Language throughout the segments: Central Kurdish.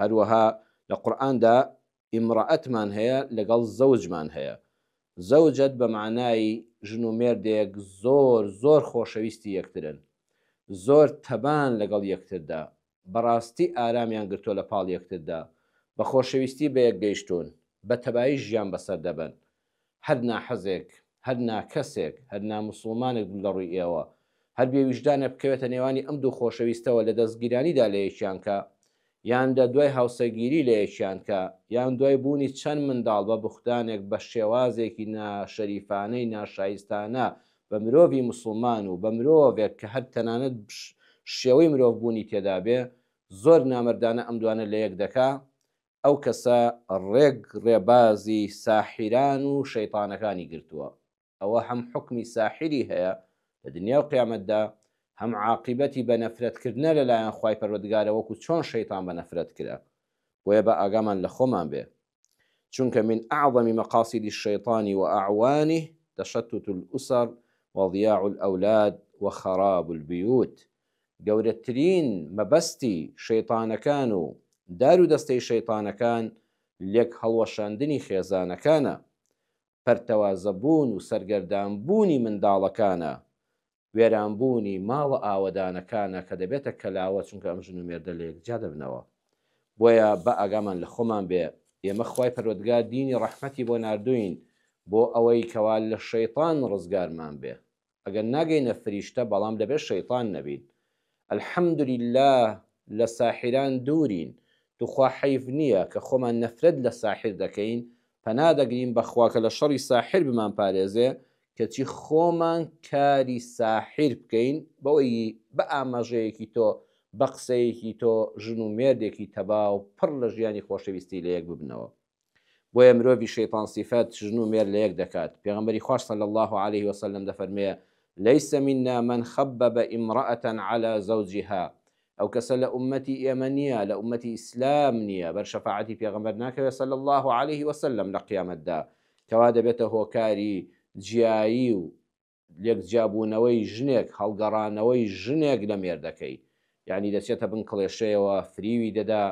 هەروەها لە قورئاندا امرأتمان هەیە لەگەڵ زەوجمان هەیە زەوجەت بە معنای ژن و مێردێک زۆر زۆر خۆشەویستی یەکترن زۆر تەبان لەگەڵ یەکتردا بەڕاستی ئارامیان گرتووە لە پاڵ یەکتردا بە خۆشەویستی بەیەک گەیشتوون بە تەبایی ژیان بەسەر دەبەن هەر ناحەزێک، هەر ناکەسێک، هەر ناموسڵمانێک بم لە ڕووی ئێوە، هەر بێ ویژدانێک بکەوێتە نێوانی ئەم دوو خۆشەویستەوە لە دەستگیرانیدا لە یەکیانکە، یان لە دوای هاوسەگیری لە یەکیانکە، یان دوای بوونی چەند منداڵ بە بوختانێک بە شێوازێکی ناشەریفانەی ناشایستانە بە مرۆڤی موسڵمان و بە مرۆڤێک کە هەر تەنانەت شێوەی مرۆڤ بوونی تێدابێ، زۆر نامەردانە ئەم دوانە لە یەک دەکا، ئەو کەسە ڕێک ڕێبازی ساحیران و شەیتانەکانی گرتووە ئەوە هەم حوکمی ساحیری هەیە لە دنیا و قیامەتدا هەم عاقیبەتی بە نەفرەت کردنە لە لایەن خوای پەروەردگارە وەکو چۆن شەیتان بە نەفرەت کرا بۆیە با ئاگامان لە خۆمان بێ چونکە من اعظم مقاصد الشیطان و اعوانه تشتت الاسر وضیاع الاولاد وخراب البیوت گەورەترین مەبەستی شەیتانەکان و دار و دەستەی شەیتانەکان لێک هەڵوەشاندنی خێزانەکانە، پەرتەوازە بوون و سەرگەردان بوونی منداڵەکانە، وێران بوونی ماڵە ئاوەدانەکانە کە دەبێتە کەلاوە چونکە ئەم ژن و مێردە لە یەک جیا دەبنەوە. بۆیە با ئاگامان لە خۆمان بێ، ئێمە خوای پەروەردگار دینی ڕەحمەتی بۆ ناردووین بۆ ئەوەی کەوا لە شەیتان ڕزگارمان بێ. ئەگەر ناگەینە فریشتە بەڵام دەبێت شەیتان نەبین الحمدللە لە ساحیران دوورین توخوا حەیف نیە کە خۆمان نەفرەت لە ساحیر دەکەین پەنا دەگرین بەخوا کە لە شەڕی ساحیر بمان پارێزێ کەچی خۆمان کاری ساحیر بکەین بەوەی بە ئاماژەیەکی تۆ بە قسەیەکی تۆ ژن و مێردێکی تەباو پڕ لە ژیانی خۆشەویستی لە یەک ببنەوە. بۆیە مرۆڤی شەیتان سیفەت، ژن و مێرد لەیەک دەکات، پێغەمبەری خواش صلی اللە علیە و سلم دەفەرمێ، لیس منا من خبب امرأە علی زوجها، ئەو کەسە لە ئوممەتی ئێمە نیە، لە ئوممەتی ئیسلام نیە، بەر شەفاعەتی پێغەمبەر ناکەوێ صلی اللە علیە و سلم لە قیامەتدا، کەوا دەبێتە هۆکاری جیایی و لێک جیابوونەوەی ژنێک هەڵگەڕانەوەی ژنێک لە مێردەکەی یانی دەچێتە بن کڵێشەیەوە فریوی دەدا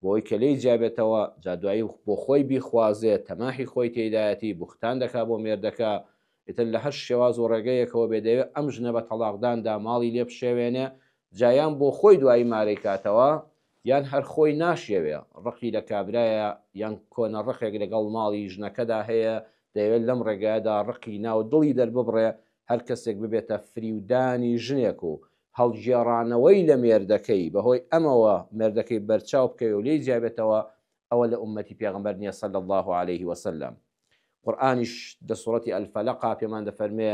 بۆی کە لێی جیابێتەوە جا دوایی بۆ خۆی بیخوازێ تەماحی خۆی تێدایەتی بوختان دەکا بۆ مێردەکە ئیتر لە هەر شێواز و ڕێگەیەکەوە بێ دەیەوێ ئەم ژنە بە تەڵاقداندا ماڵی لێ بشێوێنێ جا یان بۆ خۆی دوایی مارەی کاتەوە یان هەر خۆی ناشیەوێ ڕقی لە کابرایە یان کۆنە ڕقێک لەگەڵ ماڵی ژنەکەدا هەیە دەیەوێت لەم ڕێگایەدا ڕقی ناو دڵی دەرببڕێ هەر کەسێک ببێتە فریودانی ژنێک و هەڵگێڕانەوەی لە مێردەکەی بەهۆی ئەمەوە مێردەکەی بەرچاو بکەوێ و لێی جیابێتەوە ئەوە لە ئوممەتی پێغەمبەر نیە صلی اللە علیه وسلم قورئانیش لە سورەتی الفلق پێمان دەفەرموێ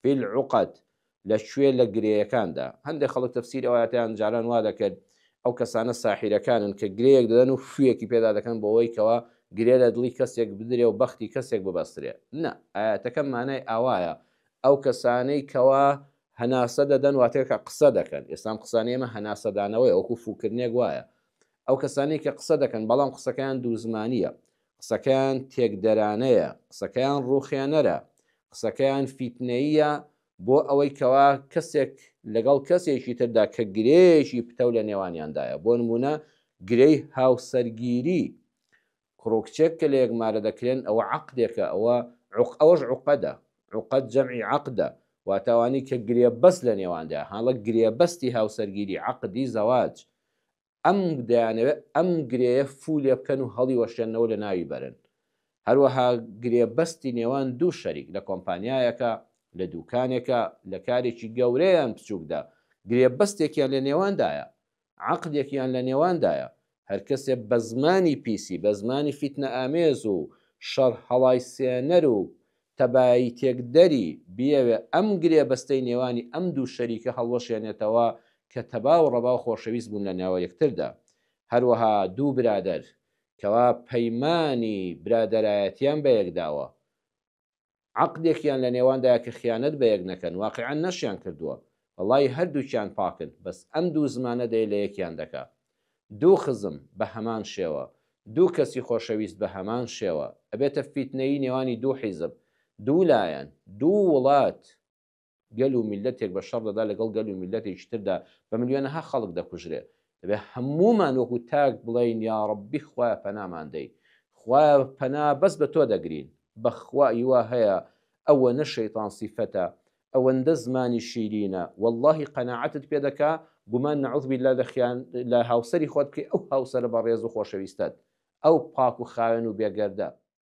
فی العقد لە کوێ لە گرێیەکاندا هەندێک خەڵک تەفسیری ئەو ئایەتەیان جاران وا دەکرد ئەو کەسانە ساحیرەکانن کە گرێیەک دەدەن و فویەکی پێدا دەکەن بۆوەی کەوا گرێ لە دڵی کەسێک بدرێ و بەختی کەسێک ببەسترێ نە ئایەتەکە مانای ئاوایە ئەو کەسانەی کەوا هەناسە دەدەن واتێکە قسە دەکەن ئێستام قسانی ئێمە هەناسەدانەوەی ئەوکو فوکردنێک وایە ئەو کەسانی کە قسە دەکەن بەڵام قسەکەیان دوو زمانیە قسەکەیان تێکدەرانەیە، قسەکەیان ڕووخێنەرە، قسەکەیان فیتنەییە بۆ ئەوەی کەوا کەسێک لەگەڵ کەسێکی تردا کە گرێیەکی پتەو لە نێوانیاندایە بۆ نمونە گرێی هاوسەرگیری کوڕ و کچێک کە لە یەک مارە دەکرێن ئەوە عەقدێکە ئەوە عوق ئەوەش عوقەدە عوقەد جەمعی عەقدە واتاوانی کە گرێبەست لە نێواندا هەڵە گرێبەستی هاوسەرگیری عەقدی زەواج ئەم دەیانەوێت ئەم گرێیە فوو لێ بکەن و هەڵیوەشێننەوە لە ناوی بەرن. هەروەها گرێبەستی نێوان دوو شەریک لە کۆمپانیایەکە، لە دووکانێکە، لە کارێکی گەورە یان بچووکدا، گرێبەستێکیان لە نێواندایە، عەقدێکیان لە نێواندایە، هەر کەسێ بە زمانی پیسی، بە زمانی فیتنەئامێز و شەڕهەڵایسێنەر و تەبایی تێکدەری بیەوێ ئەم گرێبەستەی نێوانی ئەم دوو شەریکە هەڵوەشێنێتەوە کە تەبا و ڕەبا و خۆشەویست بوون لە نێوە یەکتردا. هەروەها دوو برادەر کەوا پەیمانی برادەرایەتیان بە یەک داوە، عەقدێکیان لە نێواندایە کە خیانەت بە یەک نەکەن، واقیعەن نەشیان کردووە. وەڵای هەردووکیان پاکن بەس ئەم دوو زمانە دەی لە یەکیان دەکا دوو خزم بە هەمان شێوە دوو کەسی خۆشەویست بە هەمان شێوە ئەبێتە فیتنەیی نێوانی دوو حیزب دوو لایەن دوو وڵات گەل و میللەتێک بە شەڕ دەدا لەگەڵ گەل و میللەتێکی تردا بە ملیۆنەها خەڵک دەکوژرێ دەبێ هەموومان وەکو تاک بڵێین یاڕەبی خوایە پەنامان دەی خوایە پەنا بەس بە تۆ دەگرین بەخوا ئیوا هەیە ئەوەنە شەیتان سیفەتە ئەوەندە زمانی شیرینە وەڵاهی قەناعەتت پێ دەکا گومان نعوذ باللە لە خیان لە هاوسەری خۆت بکەی ئەو هاوسەرە بەڕێز و خۆشەویستەت ئەو پاک و خاوێن و بێگەردە